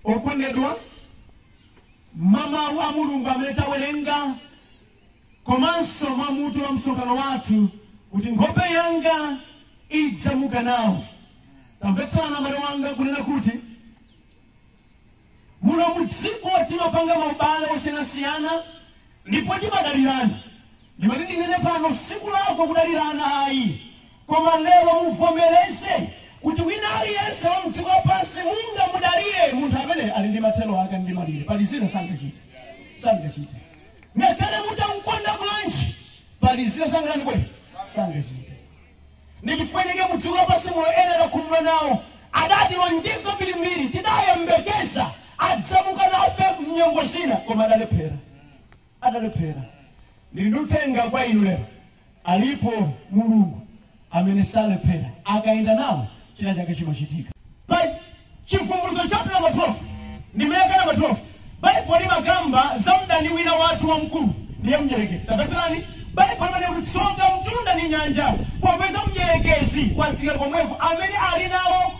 okondedwa mwa mawu a mulungu amene tawerenga komanso mwa mutu wa msonkhano wathu kuti nkhope yanga idzamuka nawo tamvetsera mbale wanga kunena kuti Muno mu dziko timapanga maubale osiyanasiyana ndipo timadalirana. Ndimati ndinene pano sikulakwa kudalirana ayi koma lero muvomereze kuti wina aliyense wa mdziko lapansi mungamudalire munthu amene ali ndi mathero ake ndi malire pali zina sangachite sangachite ngakhale mutamukonda bwanji pali zina sangakwanitse sangachite ndi chifukwa chake mu dziko lapansi muno ena takhumudwa nawo adatilonjeza zambirimbiri tidayembekeza adzamuka nafe mnyengo zina koma adalephera adalephera ndili ndi uthenga kwa inu lero alipo mulungu amene salephera akayenda nawo china chake chimachitika Pa- Chivumbulutso chaputala namba 12 ndime yake namba 12 Baibulo limakamba za mdani wina wathu wamkulu ndiye mdyerekezi. Tamvetserani, Baibulo limanena kuti tsoka mtunda ndi nyanja popeza mdyerekezi watsika komweko amene ali nawo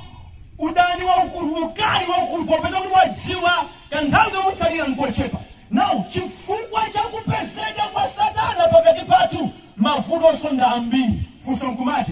udani waukulu, ukali waukulu popeza kuti wadziwa kanthawi kamutsalira nkochepa. Now, chifukwa cha kupezeka kwa Satana pakati pathu mavuto osowa ambiri. Funso nkumati,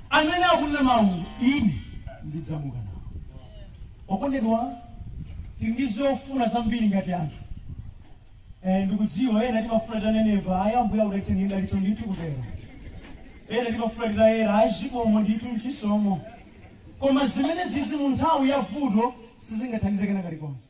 Amene akunena mau Ine ndidzamuka nawo. Okondedwa, tili ndi zofuna zambiri ngati anthu. Eh, ndikudziwa ena timafuna titanenepa, ayi Ambuye akudalitse ndi dalitso ndithu kutero. Ena timafuna titayera, ayi zikomo ndithu nchisomo. Koma zimenezizi mu nthawi ya vuto sizingathandize kena kalikonse.